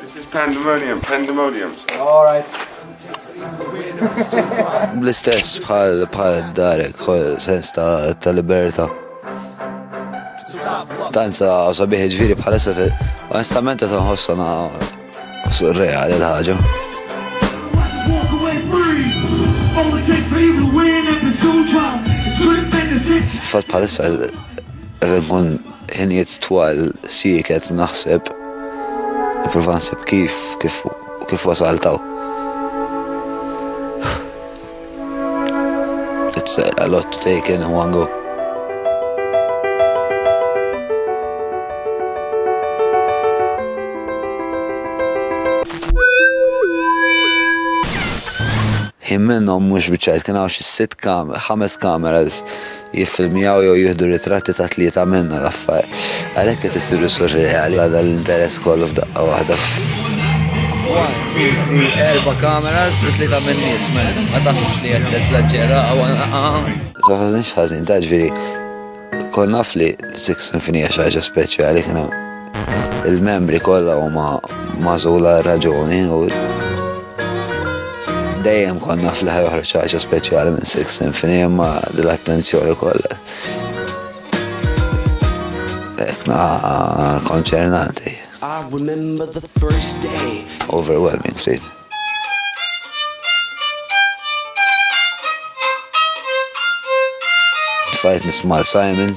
This is pandemonium, pandemonium. All right. Bl-istess bħal bħal darek, sens ta' ta' liberta. Tanza sabiħi ġviri bħal essa onestament ta' nħossa na' surreali l-ħagġa. Fat bħal essa, nkun ħinijiet twal sieket naħseb, nipprova nsib kif, kif, kif wasalt hawn. It's a lot to take in one go. Jien minnhom mhux biċċajt kien hawn xi sitt kam, ħames kameras jiffilmjaw jew jieħdu ritratti ta' tlieta minna, l-affar. Għalhekk qed isiru surreali għal dan l-interess kollu f'daqqa waħda f'. One, two, three, erba' cameras u tlieta min-nies, man. Ma taħsibx li qed teżaġġera u Taħsibx ħażin, ta' ġifieri, kont naf li Six Sinfonija xi ħaġa speċjali kien Il-membri kollha huma magħżula għal raġuni u dejjem konna fl-ħar joħroġ ħaġa speċjali minn Six Symphony imma l-attenzjoni kollha. Ekna konċernanti. Overwhelming, ftit. Fajt nisma' Simon.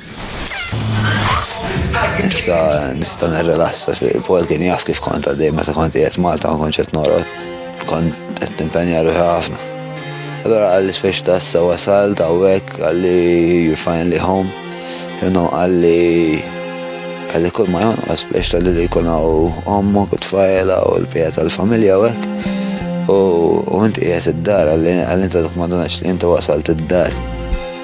Issa nista' nirrelassa fi Paul kien jaf kif kont għaddej meta kont qiegħed Malta ma kontx qed norqod. Kont qed nimpenja ruħi ħafna. Allora għalli spiex ta' issa wasal ta' wek għalli you finally home. Jumna għalli għalli kull ma jonqos biex tal li jkun hawn ommok u tfajla u l-pija tal-familja u hekk. U inti qiegħed id-dar għalli inta dak ma li inti wasalt id-dar.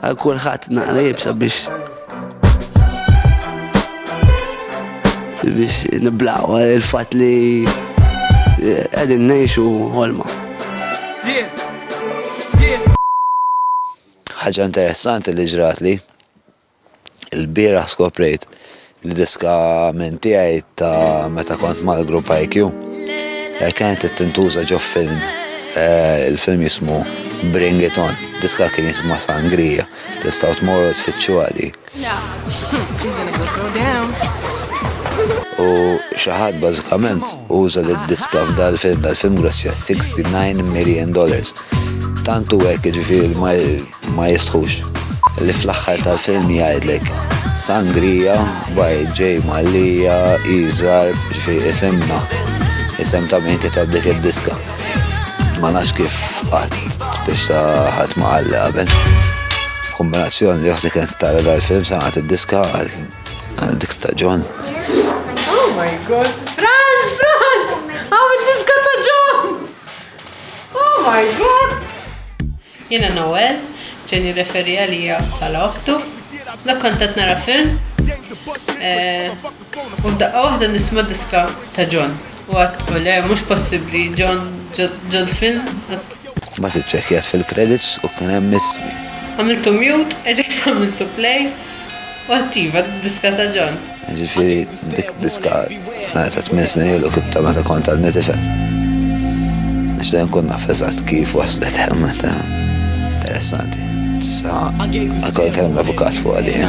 Għal kulħadd naqra jibsa biex biex niblaw il-fat li għedin eh, nejxu ħolma. ħaġa interessanti li ġrat li. Il-bieraħ skoprejt li diska minn tiegħi ta' meta kont mal-grupp IQ eh, kienet tintuża ġo film eh, il-film jismu Bring It On, diska kien jisma Sangrija, tistaw tmorru tfittxu għadi. U xaħat bażikament uża li diska f'dal film, dal-film grossja 69 million dollars. Tantu għek ġifiri ma Ma jistħux. Li fl-aħħar tal-film jgħidlek Sangria by J. Mallia Izar ġifi isemna. Isem ta' min kitab dik id-diska. Ma nafx kif qatt biex ta' ħadd ma qalli qabel. Kombinazzjoni li waħda kienet tara dal-film sangħat id-diska għal dik ta' John. Oh my god. Franz, Franz! Għaw id-diska ta' John! Oh my god! Jiena Noel, John jirreferi għalija bħala oħtu. Dak kont qed nara film eh, u f'daqqa waħda nisma' diska ta' John. U għad u le mhux possibbli John ġol film. Mbagħad iċċekkjat fil-credits u kien hemm ismi. Għamiltu mute, eġejt għamiltu play. U attiva d-diska ta' John. Ġifieri dik diska f'nara ta' tmien snin ilu kif ta' meta kont għad nitifel. Nixtieq nkun naf eżatt kif waslet hemm meta. Interessanti. Sa għakol kellem l-avukat fuq għalija.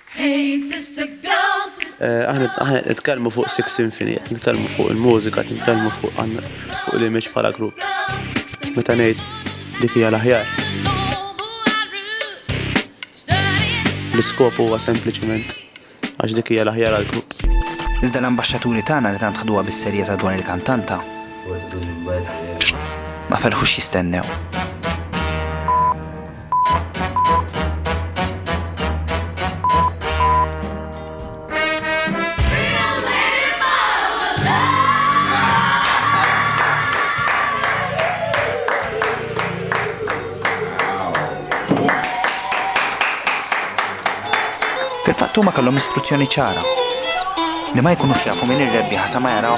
Hey sisters, girls, sisters. Aħna aħna nitkellmu fuq Six Symphony, qed nitkellmu fuq il-mużika, qed nitkellmu fuq fuq l-image bħala grupp. Meta ngħid dik hija l-aħjar. L-iskop huwa sempliċement għax dik hija l-aħjar għall-grupp. Iżda l-ambaxxaturi tagħna li tant ħduha bis-serjetà dwar il-kantanta ma ferħux jistennew. Fil-fatt huma kellhom istruzzjoni ċara li ma jkunux jafu min ir-rebbieħa sa ma jaraw